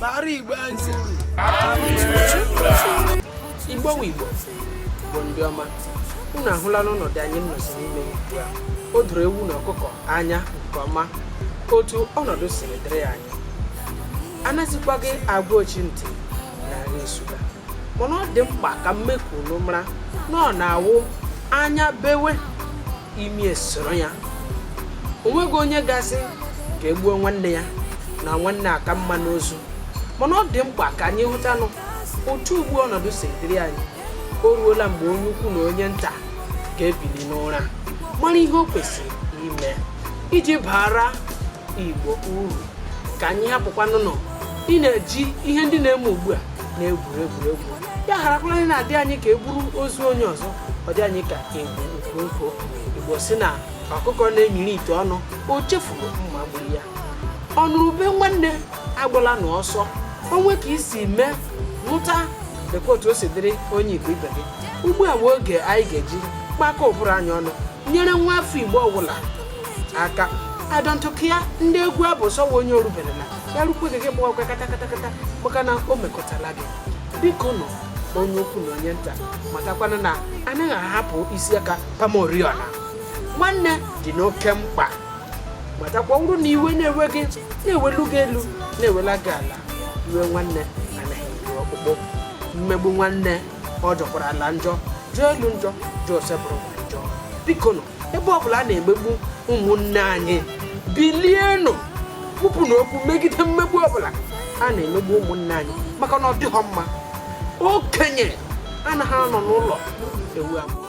Bara Igbo ntị. Igbo nwe Igbo bụ ndị ọma unu ahụla n'ọnọdụ anyị nọzi n'ime ugbu a o doro ewu na ọkụkọ anya nke ọma otu ọnọdụ siri dịrị anyị anazikwaghị agwa ochi ntị na nri nsụga mana ọ dị mkpa ka m mee ka unu mara na ọ na-awụ anya bewe imi esoro ya o nweghị onye ga-asị ka e gbuo nwanne ya na nwanne aka mma n'ozu mana ọ dị mkpa ka anyị hụtanụ otu ugbu ọnọdụ si dịrị anyị o ruola mgbe onye ukwu na onye nta ga-ebili n'ụra mara ihe o kwesịrị ime iji baara Igbo uru ka anyị hapụkwanụnụ ịna-eji ihe ndị na-eme ugbu a na-egwu egwuregwu ya harakwala ịna-adị anyị ka e buru ozu onye ọzọ ọ dị anyị ka e bu ukwu nkụ Igbo sị na ọkụkọ na-enyiri ite ọnụ o chefuru mma gburu ya ọnụrụ ube nwanne agbala na ọsọ o nwee ka i si mee nụta lekwa otu o si dịrị onye Igbo ibe gị ugbu a bụ oge anyị ga-eji kpakọ ụbụrụ anyị ọnụ nyere nwa afọ Igbo ọbụla aka adọntụkụ ya ndị egwu abụ sọwa onye o rubere na ya rukwe gị gị gbawakwa katakatakata maka na o mekọtala gị bikonụ onye ukwu na onye nta matakwana na anaghị ahapụ isi aka gbawa ụriọ na nwanne dị n'oke mkpa matakwa ọ bụrụ na iwe na-ewe gị na-eweli gị elu na-ewela gị ala iwe nwanne anaghị eru ọkpụkpụ mmegbu nwanne ọ jọkwara ala njọ jọọ elu njọ jọọ Osebụrụwa njọ bikonụ ebe ọ bụla a na-emegbu ụmụnne anyị bilienụ kwupụnụ okwu megide mmegbu ọbụla a na-emegbu ụmụnne anyị maka na ọ dịghọ mma okenye anaghị anọ n'ụlọ ewu amụọ